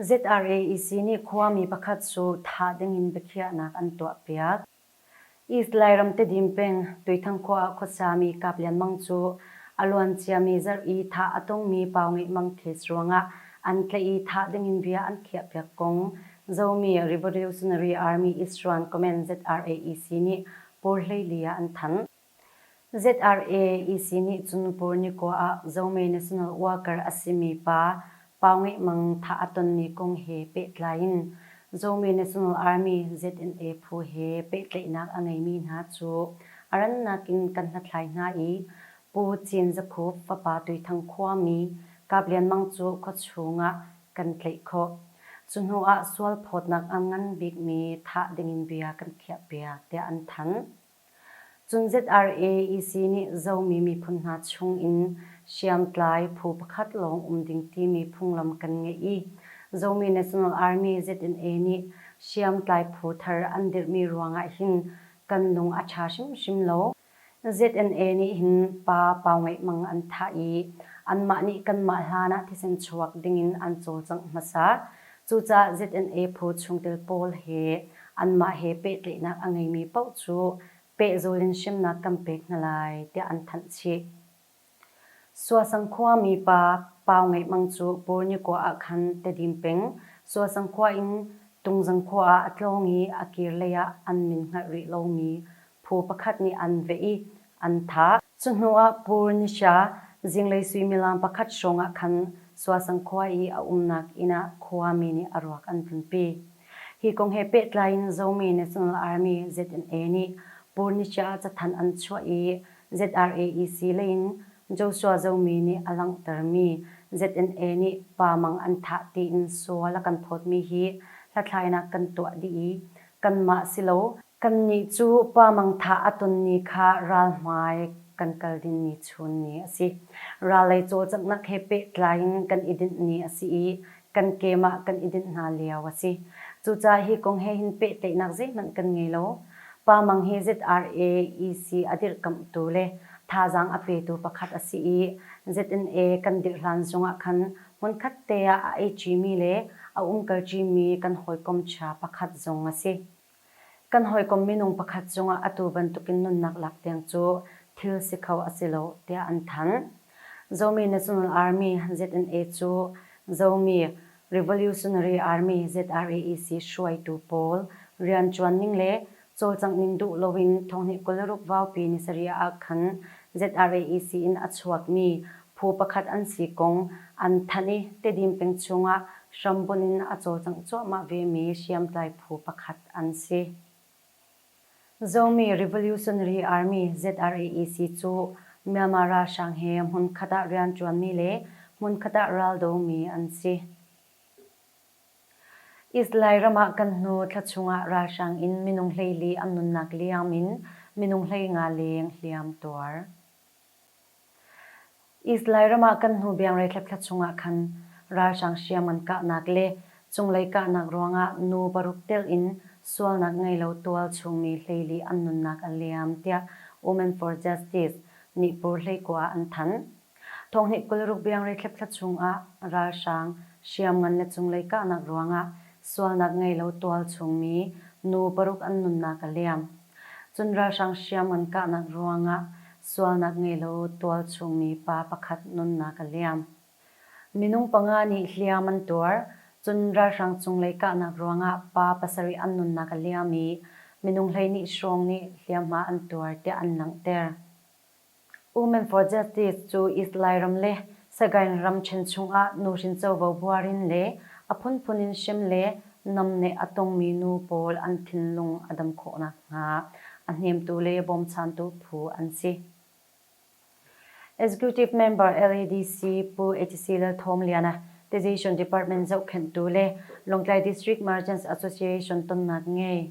ZRAEC nih khuami pakhat cu thah dingin biakhiahnak an tuahpiak. East Lairam Tedim peng Tuithang khua ah khuasiami kap lianmang cu a luanciami zarh i thah a tongmi pau ngeihmang case ruangah an tlaih i thah dingin bia an khiahpiak kong Zomi Revolutionary Army Issuan comment ZRAEC nih Pur hleili ah an thanh. ZRA EC nih cu nupur nikua ah Zome National Worker a simi pa Pau Ngeih Mang thah a tonmi kong he pehtlai in Zome National Army, ZNA, phu he pehtlaihnak a ngeimi hna cu a rannak in kan hlathlai hna i Pu Cin Za Khup fapa Tuithang khuami Kap Lian Mang cu khuachung ah kan tlaih khawh. Cu hnu ah sual phawtnak a ngan bikmi thah dingin bia kan khiahpiak tiah an thanh. Cun ZRAEC nih Zomi miphun hna chung in hriamtlai phu pakhat lawng um ding timi phunglam kan ngeih i Zomi National Army, ZNA, nih hriamtlai phu thar an dirhmi ruangah hin kan lung a ṭha hrimhrim lo. ZNA nih hin pa pau ngeihmang an thah i anmah nih kanmah hlanah thisen chuak dingin an cawlcangh hmasa. Cucaah ZNA phu chungtel pawl he anmah he pehtlaihnak a ngeimi paoh cu pehzul in hrimnak kan pek hna lai tiah an thanh chih. Suasang khua mipa Pau Ngeih Mang cu Purnikua ah khan Tedim peng Suasang khua in Tungzang khua ah a tlawng i a kir lei ah an min hngalh rih lomi phu pakhat nih an veh i an thah. Cu hnu ah Purnisha zinglei suimilam pakhat hrawng ah khan Suasang khua i a umnak inn ah khuami nih a ruak an vunpi. Hi kong he pehtlai in Zomi National Army, ZNA, nih Purnisha ah cathanh an chuah i ZRAEC lei in Joshua Zomi nih a langhtermi ZNA nih Pa Mang an thah tiin sual a kan thawtmi hi hlathlainak kan tuah dih i kanmah silo Kannih cu Pa mangtha a tonmi kha ral hmai kan kal dingmi chun ni a si. Ralei cawlcanghnak he pehtlai in kan i dinh ni a si i kan keem ah kan i dinh hna lio a si. Cucaah hi kong he hin pehtlaihnak zeihmanh kan ngei lo. Pa Mang hi ZRAEC a dirhkamhtu le thazaang a petu pakhat a si i ZNA kan dirh hlan zongah khan hmunkhat te ah a ei ṭimi le a umkal ṭimi kan hawikom ṭha pakhat zong a si. Kan hawikom minung pakhat cungah atu bantukin nunnak lak tiang cu thil si kho a si lo tiah an thanh. Zomi National Army, ZNA, cu Zomi Revolutionary Army, ZRAEC, hruaitu pawl rianṭuan ning le cawlcangh ning duh loin thonghnih kul le ruk vaupi ni sarih ah khan ZRAEC in a chuakmi phu pakhat an si kong an thanh i Tedim peng chungah hrambunh in a cawlcangh cuahmah vemi hriamtlai phu pakhat an si. Zomi Revolutionary Army, ZRAEC, cu Myanmar ralhrang he hmunkhat ah rianṭuanmi le hmunkhat ah raldomi an si. Israel ram ah kan hnu thla chungah ralhrang in minung hleili an nunnak liam in minung hlei nga leng hliam tuar. Israel ram ah kan hnu biangrei thlapthla chungah khan ralhrang hriam an kahnak le cunglei kahnak ruangah nu paruk tel in sualnak ngeilo tual chungmi hleili an nunnak a liam tiah Women for Justice nih Pur hleikua an thanh. Thawhnih kul ruk biangrei thlep-thla chungah ralhrang hriamngan le cunglei kahnak ruangah sualnak ngei lo tual chungmi nu paruk an nunnak a liam. Cun ralhrang hriamngan kahnak ruangah sualnak ngei lo tual chungmi pa pakhat nunnak a liam. Minung panga nih hliam an tuar, cun ralhrang cunglei kahnak ruangah pa pasarih an nunnak a liam i minung hleihnih hrawng nih hliamhma an tuar tiah an langhter. Women for Justice cu Israel ram le Sagaing ramṭhen chungah nuhrin covo buar in le a phunphun in hrem le namneh a tongmi nu pawl an thinlung a dam khawh nakhnga a hnemtu le bawmchantu phu an si. Executive Member LADC Pu Atc Lalthawmliana Decision Department zohkhenhtu le Lawngtlai District Merchants Association tonnak ngei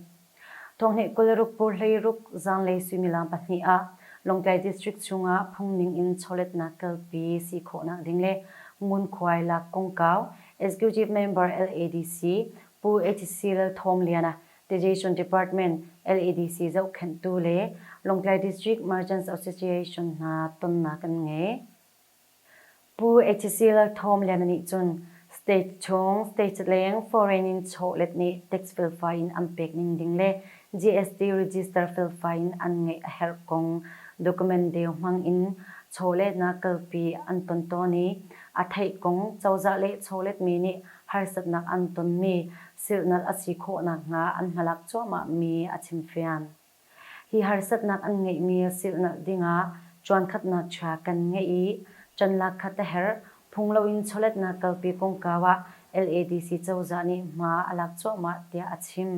Thonghnih kul ruk pur hleiruk zanlei suimilam pahnih ah Lawngtlai District chungah phungning in chawletnak kalpi si khawhnak ding le ngunkhuai lak kongkau Executive Member LADC Pu etc. Lalthawmliana, Taxation Department, LADC zohkhenhtu le Lawngtlai District Merchants Association hna tonnak an ngei. Pu Echisila Thawmliana nih cun state chung statetleng foreign in chawlet nih tax felfai in an pek ning ding le GST register felfai in an ngeih a herh kong document deu hmang in chawletnak kalpi an ton tawn i a theih kong cozah le chawletmi nih harsatnak an tonmi silhnalh a si khawh nakhnga an hmalak cuahmah mi a chim fian. Hi harsatnak an ngeihmi silhnalh dingah cuankhatnak chia kan ngeih i canlak khat a herh phung loin chawletnak kalpi kongkau ah LADC cozah nih hma a lak cuahmah tiah a chim.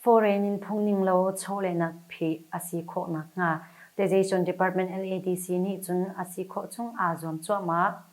Foreign in phung ning lo chawlehnak phih a si khawh nakhnga Taxation Department LADC nih cun a si khawh chung aa zuam cuahmah.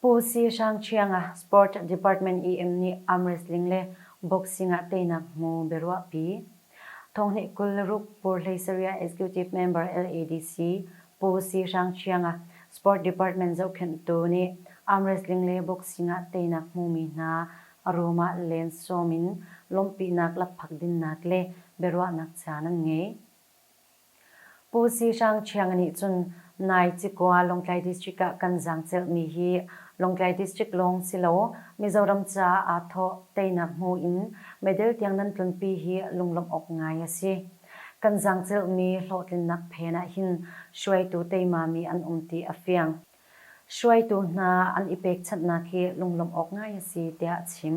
Pu Si Hrang Ṭhiang a Sport Department EM nih arm wrestling le boxing ah teinak hmu biaruahpi. Thonghnih kul le ruk pur hleisariah Executive Member LADC Pu Si Hrang Ṭhiang a Sport Department zohkhenhtu nih arm wrestling le boxing ah teinak hmumi hna a rum ah lensawm in lawmhpinak lakphak dinnak le biaruahnak caan an ngei. Pu Si Hrang Ṭhiang nih cun nai cikua Lawngtlai District ah kan zaangcelh mi hi Lawngtlai District lawng silo Mizoram caah aa thawh teinak hmu in medal tiang nan tlunpi hi lunglawmh awk ngai a si. Kan zaangcelh mi hlawhtlinnak phen ah hin hruaitu teima mi an um ti a fiang. Hruaitu hna an i pekchanhnak hi lunglawmh awk ngai a si tiah a chim.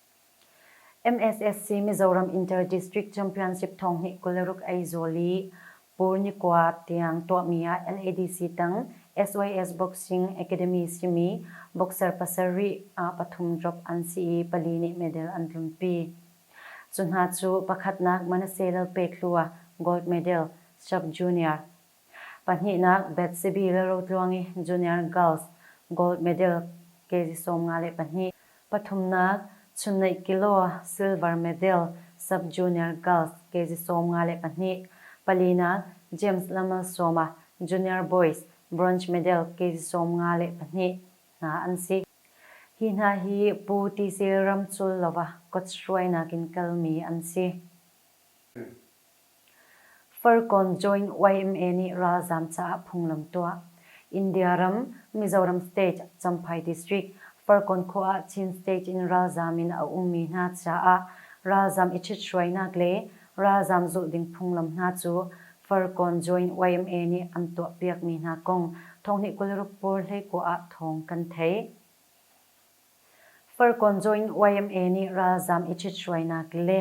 MSSC Mizoram Inter-District Championship thonghnih kul le ruk ei zawl i Pur ni kua tiang tuahmi ah LADC tang SYS Boxing Academy simi boxer pasarih ah pathum drop an si i pali nih medal an tlunpi. Cu hna cu pakhatnak Manase Lalpek Hlu ah gold medal, Sub Junior, Pahnihnak, Betsy le Rotluangi Junior Girls gold medal kg sawm nga le pahnih. Pathumnak, Chunnaih Kilo silver medal sub-junior girls kg sawm nga le pahnih. Palinak, James Lamalsawma Junior Boys bronze medal kg sawm nga le pahnih hna an si. Hi hna hi Pu Tisil Ramculova kawt hruainak in kalmi an si. Farkawn Joint yma nih ralzaam caah phunglam tuah, India ram Mizoram State Champhai District Farkawn khua ah Chin State in ralzaam in a ummi hna caah ralzaam i ṭhithruainak le ralzaam zulh ding phunglam hna cu Farkawn Joint yma nih an tuahpiakmi hna kong thonghnih kul ruk pur hleikua ah thawng kan thei. Farkawnzaw in yma nih ralzam i ṭhithruainak le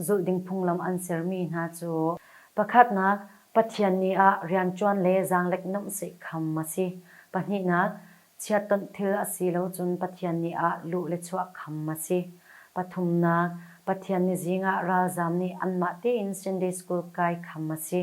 zulhding phunglam an sermi hna cu pakhatnak, Pathian ni ah rianṭuan le zaanglek nomhseih kham a si, pahnihnak, chiatawnh thil a si lo cun Pathian ni ah luh le chuah kham a si, pathumnak, Pathian ni zing ah ralzam nih anmah tein Sunday School kai kham a si.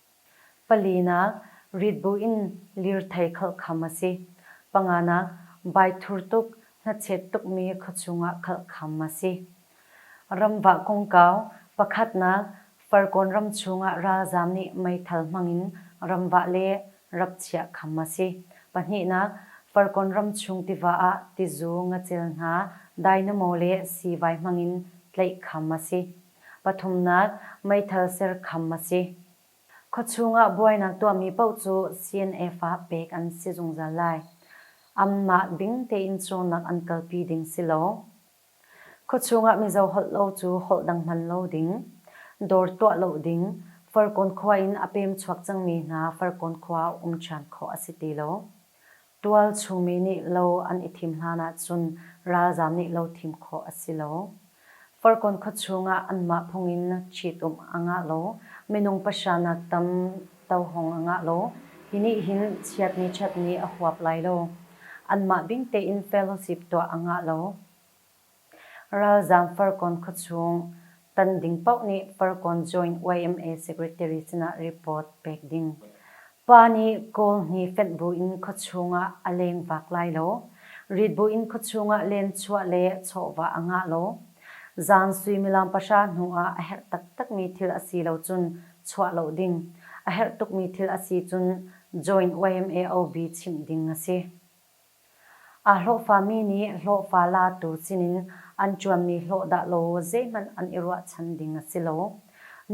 Palinak, rit buin lirthei khalh kham a si. Panganak, baithur tuk, hnachet tukmi khuachung ah khalh kham a si. Ramvah kongkau, pakhatnak, Farkawn ram chungah ralzaam nih meithal hmangin ramvah le rap chiah kham a si. Pahnihnak, Farkawn ram chung tiva ah tizu, ngacel hna, dainamaw le siivai hmangin tlaih kham a si. Pathumnak, meithal ser kham a si. Khuachung ah buainak tuahmi paoh cu CNF ah pek an si zungzal lai. Anmah ding tein cawnak an kalpi ding si lo. Khuachung ah Mizo holh lo cu holh dang hman lo ding, dawr tuah lo ding, Farkawn khua in a pem chuak cangmi hna Farkawn khua ah um ṭhan khawh a si ti lo. Tualchungmi nih lo an i thim hlan ahcun ralzam nih lo thim khawh a si lo. Farkawn khuachung ah anmah phung in ṭhitum a ngah lo, minung pahra nak tam tohawng a ngah lo. Hi nih hin chiatni ṭhatni a huap lai lo. Anmah bing tein fellowship tuah a ngah lo. Ralzaam Farkawn khuachung tan ding paoh nih Farkawn Joint yma Secretary sinah report pek ding. Pa nih Kawl hi fenh buin khuachung ah a lengvak lai lo. Rit buin khuachung ah lenchuah le chawhvah a ngah lo. Zan suimilam pahra hnu ah a herh taktakmi thil a si lo cun chuah lo ding. A herh tukmi thil a si cun Joint yma OB chimh ding a si. Aa hlawhfami nih hlawhfa latu sinin an ṭuanmi hlawh dahlo zeihmanh an i ruahchan ding a si lo.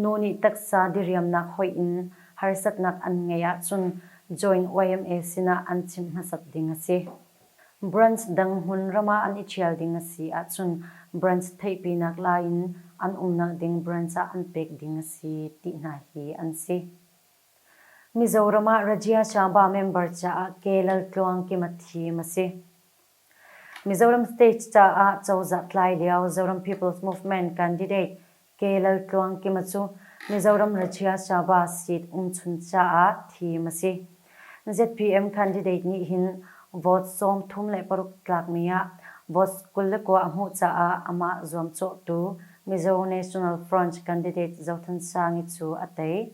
Nu nih taksa diriamnak hoih in harsatnak an ngeih ahcun Joint yma sinah an chim hmasat ding a si. Branch dang hmun ram ah an i ṭhial ding a si ahcun branch theihpinak lai in an umnak ding branch ah an pek ding a si ti hna hi an si. Mizoram ah Rajya Sabha member caah Ke Lal Tluang Kim a thim a si. Mizoram State caah cozah tlai lio Zoram People's Movement candidate Ke Lal Tluang Kima cu Mizoram Rajya Sabha seat umchun caah thim a si. ZPM candidate nih hin vote sawm thum le paruk tlakmi ah votes kul le kua a hmuh caah amah zuamcawhtu Mizo National Front candidate Zothan Sangi cu a tei.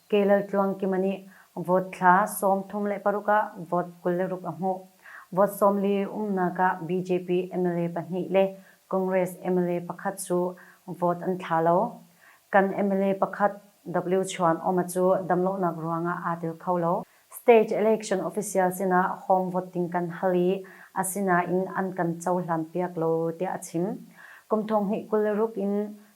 Ke Lal Tluang Kima nih vote thla sawm thum le paruk ah vote kul le ruk a hmuh. Vote sawm li umnak ah BJP mla pahnih le Congress mla pakhat cu vote an thla lo. Kan mla pakhat, Wchuan Oma cu damlonak ruangah aa tel kho lo. State Election Official sinah home vote ding kan hal i asinain an kan cohlanpiak lo tiah a chim. Kum thong hnih kul le ruk in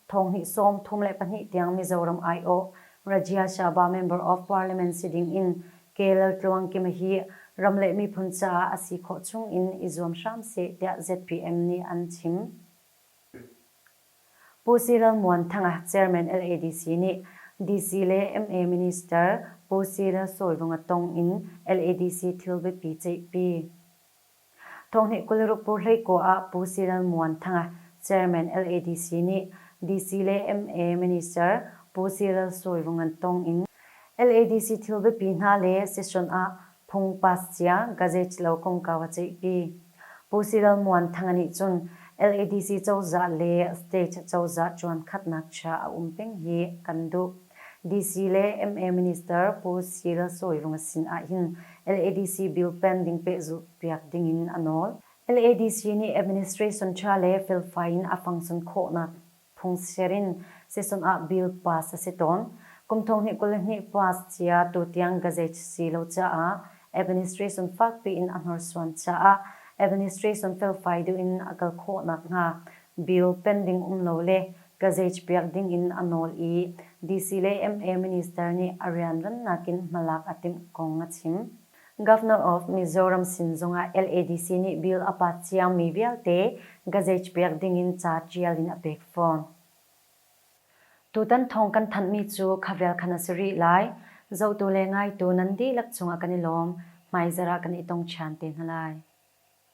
thong hnih sawm thum le pahnih tiang Mizoram aiawh Rajya Shabha Member of Parliament si ding in Ke Lal Tluang Kima hi ram le miphun caah a si khawh chung in i zuam hram seh tiah zpm nih an chim. Pu Si Ral Muan Thanga Chairman LADC nih DC le ma Minister Pu Si Ral Sawlvunga tong in LADC thil biapi ceihpi. Thawngnih kul ruk pur hleikaw ah Pu Si Ral Muan Thanga Chairman LADC nih DC le ma Minister Pu Si Ral Sawlvungan tong in LADC thil biapi hna le session ah Phung Pascia Gazette lo kongkau a ceihpi. Pu Sidal Muanthanga nih cun LADC cozah le state cozah ṭuankhatnak chia a um peng hi kan duh. DC le yma Minister Pu Cyril Sawirunga sin ahhin LADC bill pending pehzulh piak dingin a nawl. LADC nih administration ṭha le felfai in a fangson khawhnak Phungchir in Sisum ah Bill Pass a si tawn. Kum thonghnih kul le hnih Pass cia tutiang gazech si lo caah Administration fakpi in a hnorsuan caah Administration felfai duh in a kal khawh nakhnga Bill pending um lo le gazech piak ding in a nawl i DC le MA Minister nih a rianrnnak in hmalak a timh kong a chim. Governor of Mizoram sin zongah LADC nih bill a pat ciangmi vialte gazage pek dingin ca tial in a pek fawn. Tutan thawng kan thanhmi cu khavel khan a si rih lai. Zohtu le ngaitu nan dihlak cungah kan i lawm, hmaizarh ah kan i tong ṭhan te hna lai.